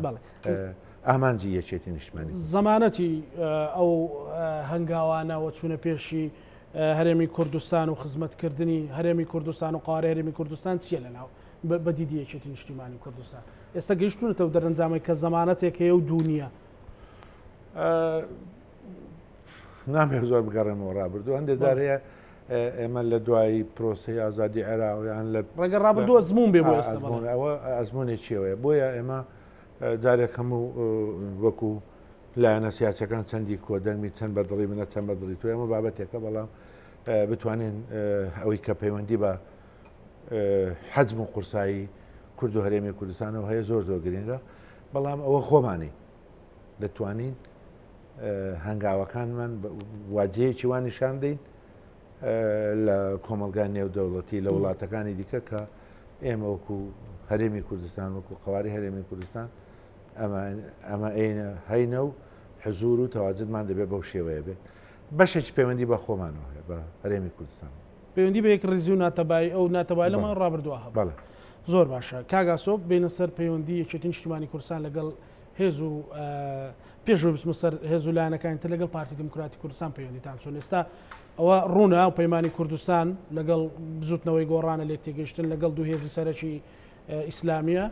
ئامانجی یەکێتی نیشتمانی زمانەتی ئەو هەنگاوانەوە چوونە پێشی هەرێمی کوردستان و خزمەتکردنی هەرێمی کوردستان و قارە هەرێمی کوردستان چییە لە ناو بە دیدی یەکێتی نیشتیمانی کوردستان ئێستا گەیشتونەتەوە دەرەنجامەی کە زمانەتێک هەیە و دونیا نامەوێت زۆر بگەڕێمەوە ڕابردو هەندێک جار هەیە ئێمە لە دوایی پرۆسی ئازادی عێراویان لە ڕێگە ڕابردووە زمون بێ ئەوە ئەزمونێک چێوەیە بۆیە ئێمە جارێک هەموو وەکو لایەنە سیاسەکان چەندی کۆدەنگمی چەند بە دڵی منە چەند بە دڵی تو ئەمە بابەتێکە بەڵام بتوانین ئەوەی کە پەیوەندی بە حەجم و قورسایی کورد و هەرێمی کوردستانەوە هەیە زۆر زۆر گرنگە بەڵام ئەوە خۆمانی دەتوانین هەنگاوەکانمان واجەیەکی وا نیشان دەین لە کۆمەلگای نێودەوڵەتی لە وڵاتەکانی دیکە کە ئێمە وەکو هەرێمی کوردستان وەکو قواری هەرێمی کوردستان ئەمە ئەینە هەینە و حزور و تەواجدمان دەبێت بەو شێوەیە بێت بەشێکی پەیوەندی بە خۆمانەوە هەیە بە هەرێمی کوردستان پەیوەندی بە یەک ڕیزی و ناتەبایی ئەو ناتەبای لە ماڵ ڕابردووە هەبە زۆر باشە کاگاسۆ بینە سەر پەیوەندی یەکێتی نیشتیمانی کوردستان لەگەڵ هێز و پێش و بسمە سەر هێز و لایەنەکانی تر لەگەڵ پارتی دموکراتی کوردستان پەیوەندیتان چۆن ئێستا ئەوە ڕوونە و پەیمانانی کوردستان لەگەڵ بزوتنەوەی گۆڕانە لێک تێگەشتن لەگەڵ دوو هێزی سەرەکی ئیسلامیە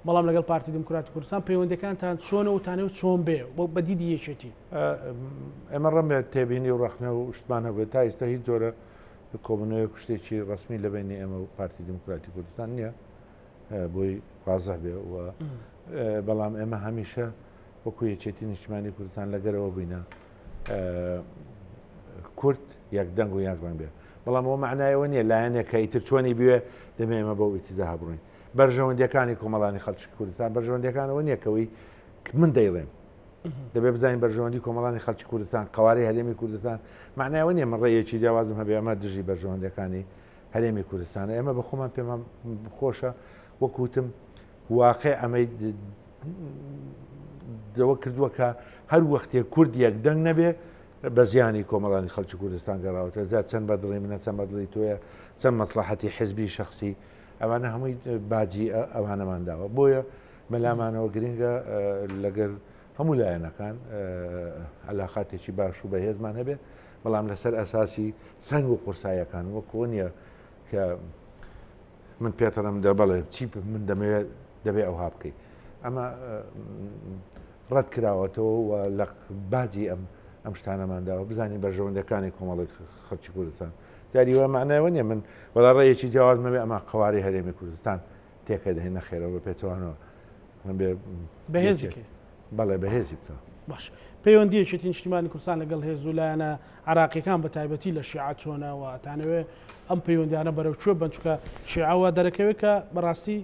بەڵام لەگەڵ پارتی دموکراتی کوردستان پەیوەندەکانتان چۆنە و تانێ و چۆن بێ بۆ بەدیدی یەکێتی ئەمە ڕەمێ تێبینی و ڕخنە و شتمان هەبێت تا ئیستا هیچ جۆرە کۆبنەوەی کوشتێکی ڕسمی لە بینی ئێمە و پارتی دموکراتی کوردستان نییە بۆی وازە بێ و بەڵام ئێمە هەمیشە وەکو یەکێتی نیشتمانی کوردستان لەگەرەوە بووینە کورد یەک دەنگ و یەک ڕەنگ بێت بەڵام ئەو معنایەوە نییە لایەنێک کە ئیتر چۆنی بوێ دەمێ ئمە بەو ئیتیزا هەبڕین بەرژەوەندەکانی کۆمەڵانی خەڵکی کوردستان بەرژەوەندەکانەوە نیەکەوەی من دەیڵێم دەبێ بزانین بەرژەوەندی کۆمەڵانی خەڵکی کوردستان قوارەی هەرێمی کوردستان معنایەوە نیە من ڕێیەکی جیاوازم هەبێ ئەمە دژی بەرژەوەندەکانی هەرێمی کوردستانە ئێمە بە خۆمان پێمان خۆشە وەکوتم واقع ئەمەی دەوە کردووە کە هەر وەختێک کورد یەک دەنگ نەبێ بە زیانی کۆمەڵانی خەڵکی کوردستان گەڕاوەتە جا چەند بە دڵی منە چەند بە دڵی تۆیە چەند مەسلحەتی حزبی شخصی ئەوانە هەمووی باجی ئەوانەمان داوە بۆیە مەلامانەوە گرنگە لەگەر هەموو لایەنەکان علااقاتێکی باش و بەهێزمان هەبێ بەڵام لەسەر ئەساسی سنگ و قورسایەکان وەکۆ نیە کە من پێتەڵم دە بەڵێ چی من دەمەوێت دەبێ ئەوها بکەیت ئەمە ڕەت کراوەتەوە و لە باجی ئەم ئەم شتانەمانداوە بزانین بەرژەوەندەکانی کۆمەڵی خەڵکی کوردستان دیاری وە معناوە نیە من وەڵا ڕێیەکی جیاوازمەبێ ئەمە قواری هەرێمی کوردستان تێکە دەهێن نەخێرەوە بە پێچوانەوە من بێ بەهێزی بەڵێ بەهێزی بکە باش پەیوەندیەکی نیشتیمانی کوردستان لەگەڵ هێز و لایەنە عراقیەکان بە تایبەتی لە شیعە چۆنە و ئەتانەوێ ئەم پەیوەندیانە بەرەو کوێ بن چکە شیعەوە دەرەکەوێت کە بەڕاستی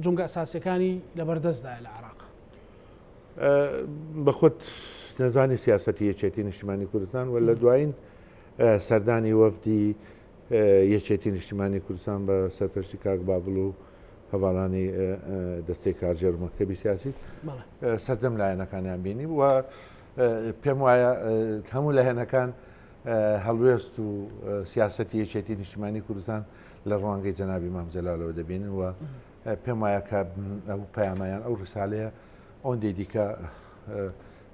جونگە ئەساسەکانی لەبەردەستدا لە عراق بە خۆت نەزانی سیاستی یەکێتی نیشتمانی کوردستان و لە دوایین سەردانی وەفدی یەکێتی نیشتمانی کوردستان بە سەرپەرشتی کاک بابل و هەواڵانی دەستەی کارژێر مەکتتەبی سیاسی سەردەم لایەنەکانیان بینی و پێم وایە هەموو لە هێنەکان هەڵوێست و سیاستی یەکێتی نیشتمانی کوردستان لە ڕوانگەی جەنابی مامجلالەوە دەبینن و پێم وایە کە ئەو پەیامەیان ئەو ڕسالەیە ئەوەندەی دیکە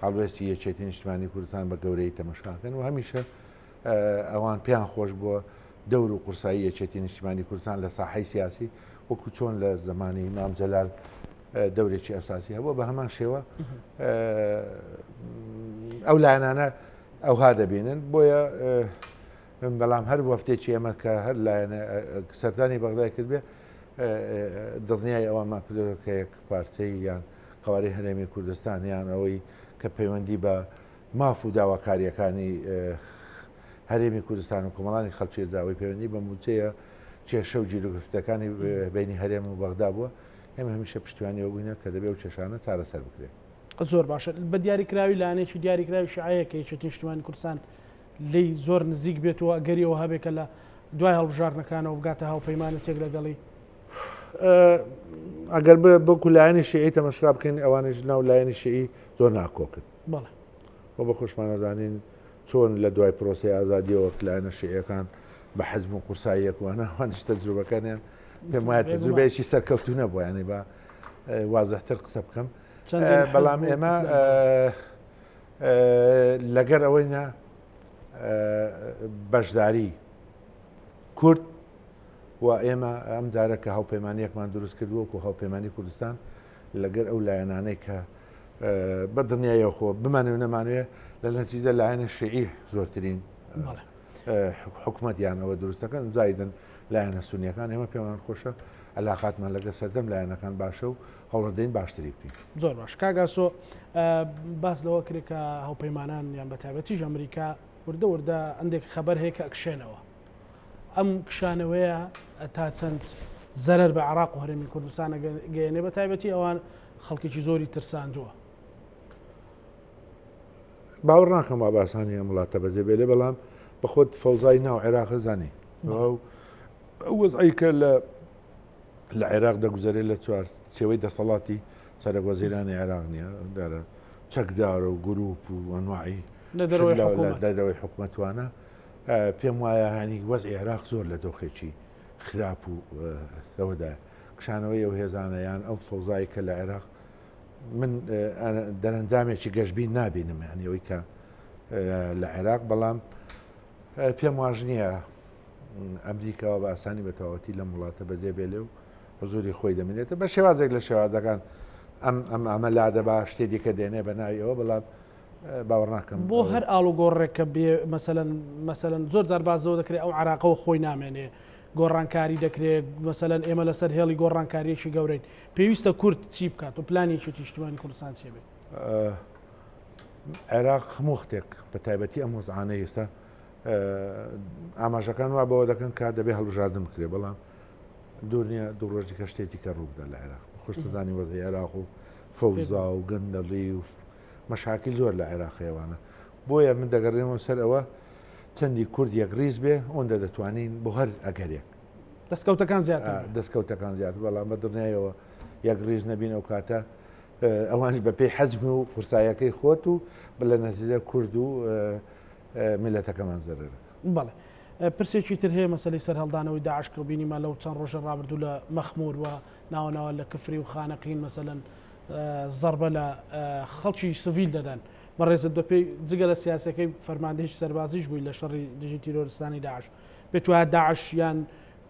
هەڵوێستی یەکێتی نیشتمانی کوردستان بە گەورەی تەمەشاکەن و هەمیشە ئەوان پێیان خۆش بووە دەور و قورسایی یەکێتی نیشتیمانی کوردستان لە ساحەی سیاسی وەکو چۆن لە زمانی مام جەلال دەورێکی ئەساسی هەبووە بە هەمان شێوە ئەو لایەنانە ئەوها دەبینن بۆیە بەڵام هەر وەفتێکی ئێمە کە هەر لایەنە سەردانی بەغدای کردبێ دڵنیای ئەوەمان کردەوە کە یەک پارتەی یان قوارەی هەرێمی کوردستان یان ئەوەی کە پەیوەندی بە ماف و داواکارییەکانی هەرێمی کوردستان و کۆمەڵانی خەڵکیدا ئەوەی پەیوەندی بە موچەیە کێشە و جیروگرفتەکانی بینی هەرێم و بەغدا بووە ئێمە هەمیشە پشتیوانیەوە بووینە کە دەبێ و کێشانە چارەسەر بکرێت. زۆر باشە بە دیاریکراوی لایەنێکی دیاریکراوی شیعەیە کە یەکێتی نیشتیمانی کوردستان لێی زۆر نزیک بێت و ئەگەری ئەوە هەبێت کە لە دوای هەڵبژاردنەکانەوە بگاتە هاوپەیمانەتێک لەگەڵی ئەگەر بۆ کولایەنی شیعی تەمەشرا بکەین ئەوانیش ناو لایەنی شیعی زۆر ناکۆکن بەڵێ. وە بە خۆشمان ئەزانین چۆن لە دوای پرۆسەی ئازادیەوە لایەنە شیعیەکان بە حەجم و قورساییەک وانە هەنش تەجروبەکانیان پێم وایە تەجروبەیەکی سەرکەوتو نەبووە یانی بە وازەتر قسە بکەم بەڵام ئێمە لەگەر ئەوەی نە بەشداری کورد و ئێمە ئەم جارە کە هاوپەیمانیەکمان دروست کردووەکو هاوپەیمانانی کوردستان لەگەر ئەو لایەنانەی کە بە دڵنیایەوە خۆ بمانێ و نەمانوێ لە نەتیجە لایەنە شعی زۆرترین حکوومەتیانەوە دروستەکەن زایدن لایەنە سونیەکان ئێمە پێمان خۆشە علااقاتمان لەگە سەردەم لایەنەکان باشە و هەوڵدەین باشتری بکەین زۆر باش کاگاسۆ باس لەوە کرێکە هەوپەیمانان یان بە تابەتیش ئەمریکا وردە وردە ئەندێک خەبەر هەیە کە ئەکشێنەوە ئەم کشانەوەیە تا چەند زەرەر بە عراق و هەرێمی کوردستانە گەیەنێ بە تایبەتی ئەوان خەڵکێکی زۆری ترساندووە باوەڕ ناکەم وا باسانی ئەم وڵاتە بەجێ بێ لێ بەڵام بەخۆت فەوزای ناو عێراق زانی وەزعیکە لە لە عێراق دەگوزارێ لە چوار سێوەی دەسەڵاتی سەرک وەزیرانی عێراق نییە دارە چەکدارە و گروپ و ئەنواعی لە دەرەوەی حکومەتوانە پێم وایە هەنیک وەز عێراق زۆر لە دۆخێکی خراپ و لەوەدا کشانەوەی ئەو هێزانە یان ئەو فەوزایی کە لە عێراق من دەرەنجامێکی گەشتبین نابینم یعنی ئەوی کە لە عێراق بەڵام پێم واژ نییە ئەمریکاوە بە ئاسانی بە تەواوەتی لەم وڵاتە بەجێ بێلێ و حزوری خۆی دەمێنێتە بە شێوازێک لە شێوازەکان ئەم ئەم ئەمە لادەبا شتێ دیکە دێنێ بە ناویەوە بەڵام باوەڕناکەم بۆ هەر ئاڵوگۆڕێک کە بێ مەسەلەن مەسەلەن زۆر جار باس لەوە دەکرێت ئەو عراقەوە خۆی نامێنێ گۆڕانکاری دەکرێت مەسەلەن ئێمە لەسەر هێڵی گۆڕانکاریەکی گەورەین پێویستە کورد چی بکات و پلانێکی تیشتمانی کوردستان چێ بێت عێراق هەموو وختێک بە تایبەتی ئەم وەزعانە ئێستا ئاماژەکان وا بەوە دەکەن کا دەبێ هەڵبژاردن بکرێ بەڵام دوور نیە دوو ڕۆژی کە شتێتی کە ڕووبدا لە عێراق خۆشتزانی وەزی عێراق و فەوزا و گەندەڵی و مەشاکیل زۆر لە عێراق هەیە وانە بۆیە من دەگەڕێمەوە سەر ئەوە چەندی کورد یەک ریز بێ ئەوەندە دەتوانین بۆ هەر ئەگەرێک دەستکەوتەکان زیاتر آه، دەستکەوتەکان زیاتر بەڵام بە دڵنیایەوە یەک ریز نەبین ئەو کاتە آه، ئەوانش بە پێی حەزم و قورسایەکەی خۆت و بە لە نەزیدە کورد و آه، میلەتەکەمان زەرەرەکە بەڵێ پرسێکی تر هەیە مەسلی سەر هەڵدانەوەی داعش کە بینیمان لەو چەند ڕۆژە ڕابردوو لە مەخمور و ناوەناوە لە کفری و خانەقین مەسەن زەڕبە لە خەڵکی سڤیل دەدەن. بەڕێزت بەپێی جگە لە سیاسەکەی فەرماندەیش سەربازیش بووی لە شەڕی دژی تیرۆرستانی داعش پێت وایە داعش یان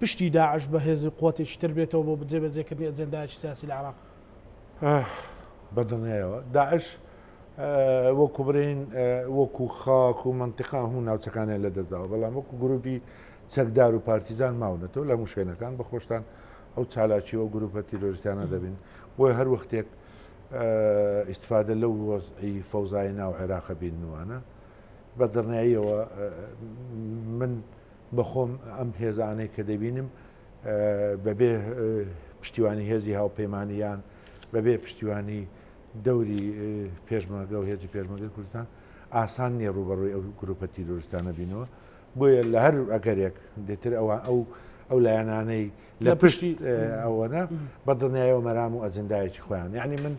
پشتی داعش بە هێزی قوتێکی تر بێتەوە بۆ جێبەجێکردنی ئەجێندایەکی سیاسی لە عێراق؟ بەدڵنیایەوە داعش وەکو برین وەکو خاک و منتیقا هەموو ناوچەکانیان لەدەستداوە بەڵام وەکو گروپی چەکدار و پارتیزان ماونەتەوە لە موشێنەکان بە خۆشتان ئەو چالاکی و گروپە تیرۆریستانە دەبین بۆی هەر وەختێک ئیسفادە لەو وەزعی فەوزای ناو عێراق بینوانە بە دڕناییەوە من بەخۆم ئەم هێزانەی کە دەبینم بەبێ پشتیوانی هێزی هاوپەیمانیان بەبێ پشتیوانی دەوری پێشمەگە و هێزی پێشمەگە کوردستان ئاسان نیە ڕوبەڕووی ئەو گروپە تیرۆریستانە بینەوە بۆیە لە هەر ئەگەرێک دێتر ئەوە ئەو ئەو لایەنانەی لە پشتی ئەوەنە بە دڵنیایەوە مەرام و ئەجندایەکی خۆیان یعنی من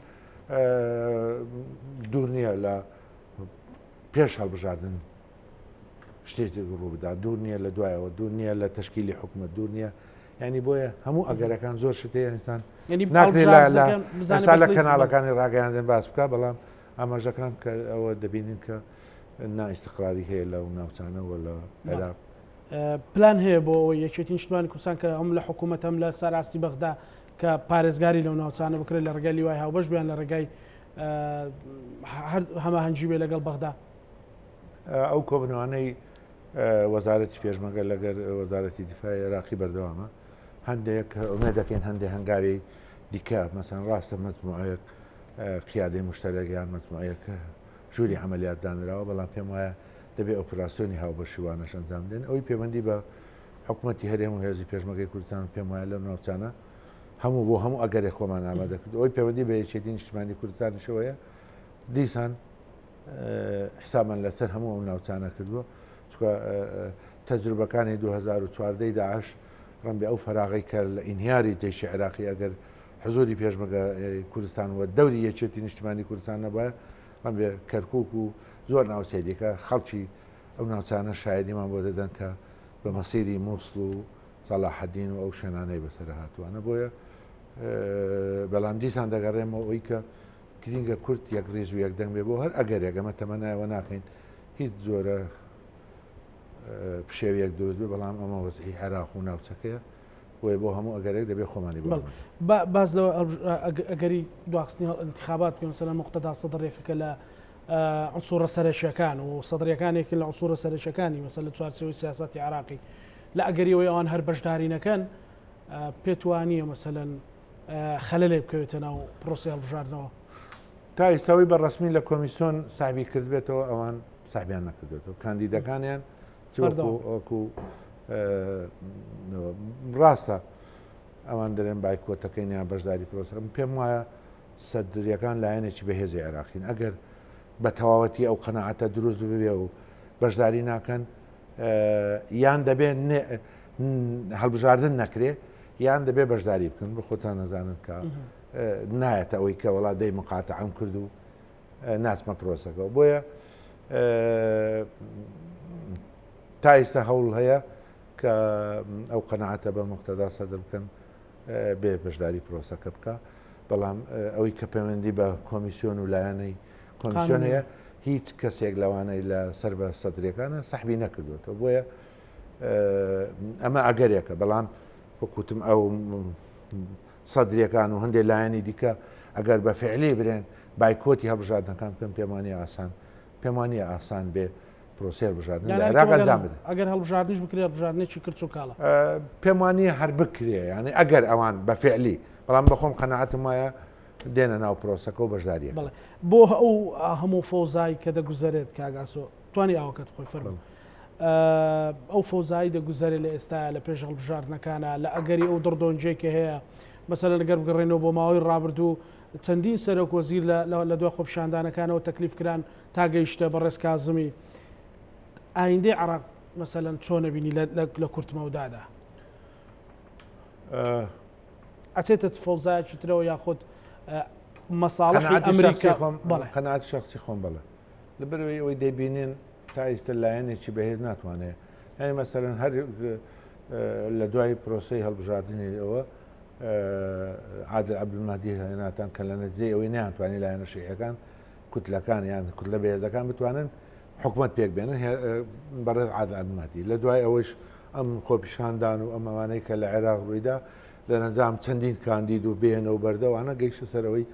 دوور نییە لە پێش هەڵبژاردن شتێکی ڕوو بدا دوور نییە لە دوایەوە دوور نییە لە تشکیلی حکومە دوور نییە ینی بۆیە هەموو ئەگەرەکان زۆر شتێنتان ناکرێت لە کەناڵەکانی ڕاگەیاندن باس بکە بەڵام ئاماژەکان کە ئەوە دەبینین کە نا ئیستقراری هەیە لەو ناوچانە و لە عێراق. پلان هەیە بۆ ئەوەی یەکێتی نیشتمانی کوردستان کە ئەم لە حکوومەت هەم لە سەراستی بەغدا کە پارێزگاری لەو ناوچانە بکرێت لە ڕێگای لیوای هاوبەش بیان لە ڕێگای هەماهەنگی بێ لەگەڵ بەغدا ئەو کۆبنەوانەی وەزارەتی پێشمەگە لەگەر وەزارەتی دیفاع عێراقی بەردەوامە هەندێک ئومێ دەکەین هەندێک هەنگاوی دیکە مەسەن ڕاستە مەجموعەیەک قیادی مشتەرەگەیان مەجموعەکە ژووری عملیات دانراوە بەڵام پێم وایە دەبێ ئۆپراسسیۆنی هاوبەشیوانەش ئەنجام دێن ئەوی پەیوەندی بە حکوومەتتی هەرێم و هێزی پێشمەگەی کوردستان پێم وایە لە ناوچانە هەموو بۆ هەموو ئەگەرێ خۆمان ئامادەکرد ئەوی پەیوەندی بە یەکێتی نیشتمانی کوردستانیشەوەیە دیسان حسامان لەسەر هەموو ئەو ناوچانە کردووە چونکە تەجروبەکانی دوو هەزار و چواردە ی داعش ڕەنبێ ئەو فەراغەی کە لە ئینهیاری جەیشی عێراقی ئەگەر حزوری پێشمەگە کوردستان وە دەوری یەکێتی نیشتمانی کوردستان نەبایە ڕەنبێ کەرکک و زۆر ناوچەی دیکە خەڵکی ئەو ناوچانە شایدیمان بۆ دەدەن کە بە مەسیری مووسڵ و سەلاحەدین و ئەو شوێنانەی بەسەر هاتووانە بۆیە بەڵام دیسان دەگەڕێمەوە ئەوی کە گرینگە کورد یەک ریز و یەک دەنگ بێ بۆ هەر ئەگەرێک ئەمە تەمەنای ئەوە ناکەین هیچ جۆرە پشێویەک دروست بێ بەڵام ئەمە وەزعی عێراق و ناوچەکەیە بۆیە بۆ هەموو ئەگەرێک دەبێ خۆمانی بڵ باز لەوە ئەگەری دواخستنی هەڵ انتخابات پێ سەر مختدا سەدڕێکەکە لە عسوورە سەرەکیەکان و سەدرەکانێکی لە عسوورە سەرەکەکانی مەسە لە چوارچەوەی سیاستی عراقی لە ئەگەریەوەی ئەوان هەر بەشدارینەکەن پێتوانیە مەسەەن خەلەلێک بکەوێتە ناو پرۆسی هەڵبژاردنەوە تا ئیستاوی بە ڕسمی لە کۆمیسیۆن سابی کردبێتەوە ئەوان سابیان نەکردێتەوە کاندیدەکانیان چوەکو ڕاستە ئەوان دەرێن بایکۆتەکەینیان بەشداری پرۆسرم پێم وایە سەدرریەکان لایەنێکی بەهێزی عێراقین ئەگەر بە تەواوەتی ئەو قەنەعاتە دروست ببێ و بەشداری ناکەن یان دەبێت هەڵبژاردن نەکرێ یان دەبێ بەشداری بکەن بە خۆتان نەزانن کە نایەتە ئەوەی کە وڵات دەی مقاتە ئەم کرد و ناچمە پرۆسەکە بۆیە تایستا هەوڵ هەیە کە ئەو قەنەعاتە بە مختدا سەدر بکەن بێ بەشداری پرۆسەکە بکە بەڵام ئەوەی کە پەیوەندی بە کۆمیسیۆن و لایەنەی کۆمیسیۆن هەیە هیچ کەسێک لەوانەی لە سەر بە سەدرەکانە سەحبی نەکردوێتەوە بۆیە ئەمە ئەگەرێکە بەڵام وەکوتم ئەو سەدرەکان و هەندێک لایەنی دیکە ئەگەر بە فعلی برێن بایکۆتی هەبژاردنەکان بکەن پێمانی ئاسان پێمانی ئاسان بێ پرۆسێر بژاردن راگەنجام بدە ئەگەر هەڵبژاردنش بکرێ بژاردنێکی کرد و کاڵە پێمانی هەر بکرێ ینی ئەگەر ئەوان بە فعلی بەڵام بەخۆم قەنەعاتم وایە دێنە ناو پرۆسەکە و بەشداریە بڵێ بۆ ئەو هەموو فۆزای کە دەگوزارێت کاگاسۆ توانی ئاوەکەت خۆی فەرم ئەو فۆزایی دەگوزارێ لە ئێستا لە پێش هەڵبژاردنەکانە لە ئەگەری ئەو دڕدۆنجێک کە هەیە مەسەر لەگەر بگەڕێنەوە بۆ ماوەی ڕابردوو چەندین سەرۆک وەزیر لە دوای خۆپشاندانەکانەوە تەکلیف کران تا گەیشتە بە ڕێزکازمی ئایندەی عراق مەسەەن چۆنە بینی لە کورتمەودادا. ئەچێتە فەوزایەکی ترەوە یاخود مەساڵحی ئەمریکا خۆم بەڵێ قەنات شخصی خۆم بەڵێ لە بەرەوەی ئەوەی دەبینین تا ئیستە لایەنێکی بەهێز ناتوانێت یعنی مەسەرەن هەر لە دوای پرۆسی هەڵبژاردننی ئەوە عادل عبدمادی هێناتان کە لە نەجێ ئەوەی نیانتوانی لایەنە شیعەکان کوتلەکان یان کوتلە بەهێزەکان بتوانن حکومت پێک بێنن بەڕێز عادلمەتی لە دوای ئەوەیش ئەم خۆپیشاندان و ئەمەوانەی کە لە عێراق ڕوویدا لە نەنجام چەندین کاندید و بێنە و بەردەوانە گەیشتە سەرەوەی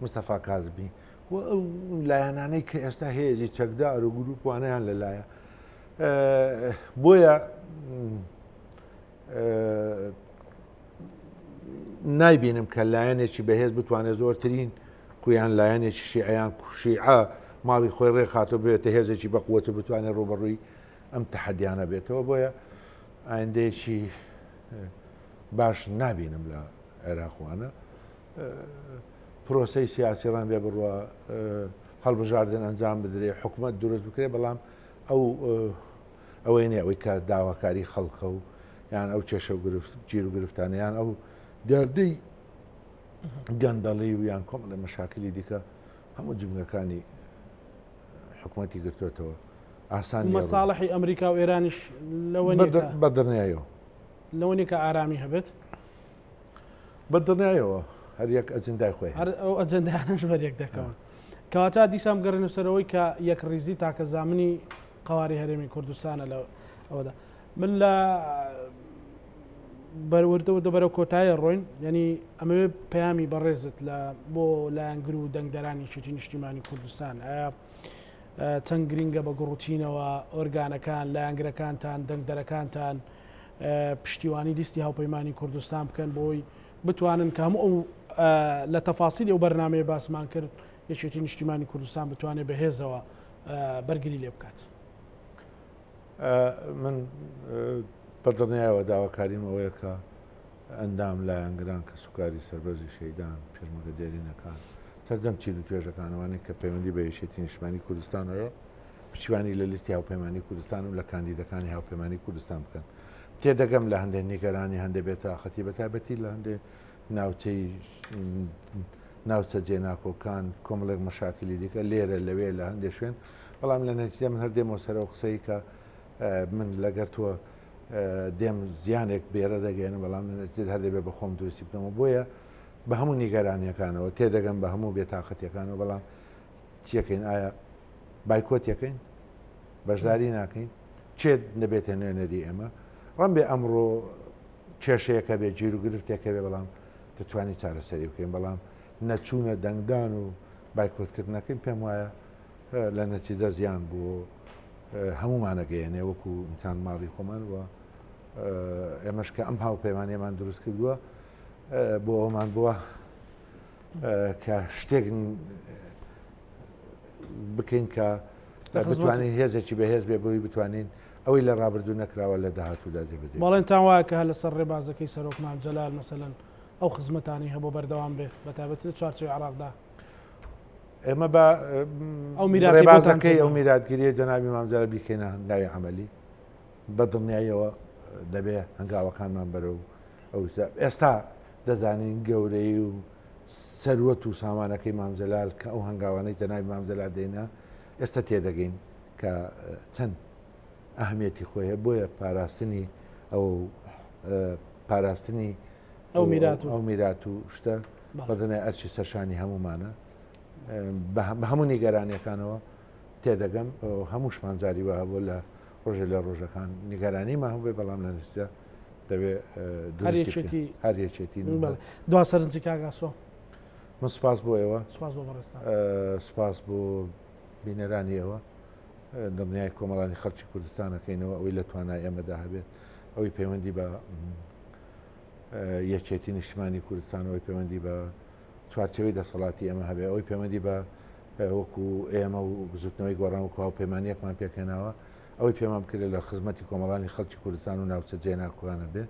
مستەفا کازبی و ئەو لایەنانەی کە ئێستا هێزی چەکدا ئەرو گروپوانیان لەلایە بۆیە نایبینم کە لایەنێکی بەهێز بتوانێت زۆرترین کویان لایەنێکی شیعیان کوشیعە ماڵی خۆی ڕێخاتۆ بێتە هێزێکی بەقوەت و بتوانێت ڕوبەڕووی ئەم تەحەدیانە بێتەوە بۆیە ئایندەیەکی باش نابینم لە عێراقوانە پرۆسی سیاسی ڕان بێ بڕە هەڵبژاردن ئەنجام بدرێ حکوومەت دروست بکرێ بەڵام ئەو ئەوەی نیە ئەوەی کە داواکاری خەڵکە و یان ئەو کێشە و گرفت گیر و گرفتانیان ئەو دەردەی گەندەڵی و یان کۆم لە مەشاکلی دیکە هەموو جمگەکانی حکوومەتی گرتوێتەوە ئاسان مەساڵحی ئەمریکا و ئێرانیش لەوە بەدرنیایەوە لەوەنێ کە ئارامی هەبێت بە دڵنیایەوە هەر یەک ئەجندای خۆی هەر ئەو ئەجندانش بەرێک دەکەون کەواتا دیسان بگەڕێن و سەرەوەی کە یەک ڕیزی تاکە زامنی قواری هەرێمی کوردستانە لە ئەودا من لە بەروردەوە دەبەرە کۆتایە ڕۆین یعنی ئەمەوێ پەیامی بەڕێزت لە بۆ لایەنگر و دەنگدەرانی شێتی نیشتیمانی کوردستان ئایا چەند گرنگە بە گوڕوتینەوە ئۆرگانەکان لایەنگرەکانتان دەنگدەرەکانتان و پشتیوانی لیستی هاوپەیمانی کوردستان بکەن بۆی بتوانن کە هەموو ئەو لە تەفاسیلی ئەو بەرنمەیە باسمان کرد یەکێتی نیشتیمانی کوردستان بتوانێت بەهێزەوە بەرگری لێ بکات من بەدڵنیایەوە داواکاریم ئەوەیە کە ئەندام لایەنگران کە سوکاری سربەرزی شەیدان پێشمەگە دێرینەکان سەردەم چیل و توێژەکانوانێک کە پەیوەندی بە یشێتی نیشمانی کوردستانەوە پشتیوانی لە لیستی هاوپەیمانی کوردستان و لە کاندیدەکانی هاوپەیمانی کوردستان بکەن تێدەگەم لە هەندێک نیگەرانی هەندێک بێت تااقەتی بە تایبەتی لە هەندێک ناوچەی ناوچە جێناکۆکان کۆمەڵێک مەشاکلی دیکە لێرە لەوێ لە هەندێک شوێن بەڵام لە نەتیجە من هەردێمەوە سەرەوە قسەی کە من لەگەر تۆ دێم زیانێک بێرە دەگەێنم بەڵام نەتیجێت هەر دەبێت بە خۆم دروستی بکەمەوە بۆیە بە هەموو نیگەرانیەکانەوە تێدەگەم بە هەموو بێتاقەتەکانەوە بەڵام چیەکەین ئایا بایکۆتیەکەین بەشداری ناکەین چێت نەبێتە نوێنەری ئێمە ڕم بێ ئەمڕۆ کێشەیەەکە بێ جیر و گرفتێکە بێ بەڵام دەتوانانی چارەسەری بکەین بەڵام نەچوونە دەنگدان و بایکۆتکردنەکەین پێم وایە لە نەتیجە زیان بوو هەمومانەگەیەنێ وەکو ئینسان ماڵی خۆمان وە ئێمەش کە ئەم هاوپەیمانێمان دروست کردووە بۆ ئەومان بووە کە شتێک بکەین کە بتوانین هێزێکی بەهێز بێ بۆی بتوانین ئەوەی لە ڕابردوو نەکراوە لە داهاتوودا دەبێت بەڵێن تان وایە کە هە لەسەر ڕێبازەکەی سەرۆکمان جەلال مەسەن ئەو خزمەتانی هەبوو بەردەوام بێت بە تابەت لە چوارچەوەی عراقدا ئێمە بە ئەو میرابازەکەی ئەو میراتگیریە جەناوی مامزارە بیکەینە هەنگاوی عملی بە دڵنیاییەوە دەبێ هەنگاوەکانمان بەرەو ئەو ئێستا دەزانین گەورەی و سەروەت و سامانەکەی مامجلال کە ئەو هەنگاوانەی جەناوی مامجلال دێنا ئێستا تێدەگەین کە چەند ئەهمیەتی خۆیە بۆیە پاراستنی ئەو پاراستنی ئەو میرات و ئەو میرات و شتە بەدنای ئەرچی سەرشانی هەمومانە بە هەموو نیگەرانەکانەوە تێدەگەم هەمووشمان جاری وە هەبوو لە ڕۆژێ لە ڕۆژەکان نیگەرانیمان هەبێ بەڵام لە نزیدا دەبێ دوێتی هەرێچێتی دو سەرنجی کاگاسۆ من سپاس بۆ ئێوە سپاس بۆ بینەرانی ئێوە دڵنیای کۆمەڵانی خەڵکی کوردستانەکەینەوە ئەوەی لە توانای ئێمەدا هەبێت ئەوەی پەیوەندی بە یەکێتی نیشتمانی کوردستانەوەی پەیوەندی بە چوارچێوەی دەسەڵاتی ئێمە هەبێ ئەوەی پەیوەندی بە وەکو ئێمە و بزوتنەوەی گۆڕان و هاوپەیمانیەکمان پێکهێناوە ئەوەی پێمان بکرێت لە خزمەتی کۆمەڵانی خەڵکی کوردستان و ناوچە جێناکوانە بێ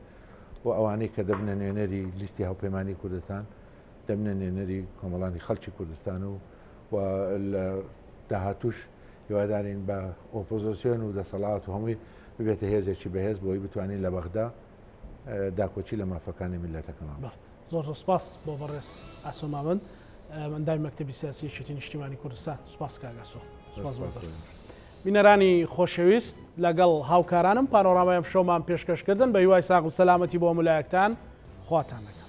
و ئەوانەی کە دەبنە نوێنەری لیستی هاوپەیمانی کوردستان دەبنە نوێنەری کۆمەڵانی خەڵکی کوردستان و و لە داهاتوش هیوادارین بە ئۆپۆزیسیۆن و دەسەڵات و هەمووی ببێتە هێزێکی بەهێز بۆی بتوانین لە بەغدا داکۆکی لە مافەکانی میللەتەکەمان بکەین. زۆر زۆر سپاس بۆ بەڕێز ئاسۆ مامەند ئەندامی مەکتەبی سیاسی یەکێتی نیشتیمانی کوردستان سپاس کاک ئاسۆ سپاس بۆ دەست. بینەرانی خۆشەویست لەگەڵ هاوکارانم پانۆرامای ئەمشەومان پێشکەشکردن بە هیوای ساغ و سەلامەتی بۆ هەموو لایەکتان خواتان لەگەڵ.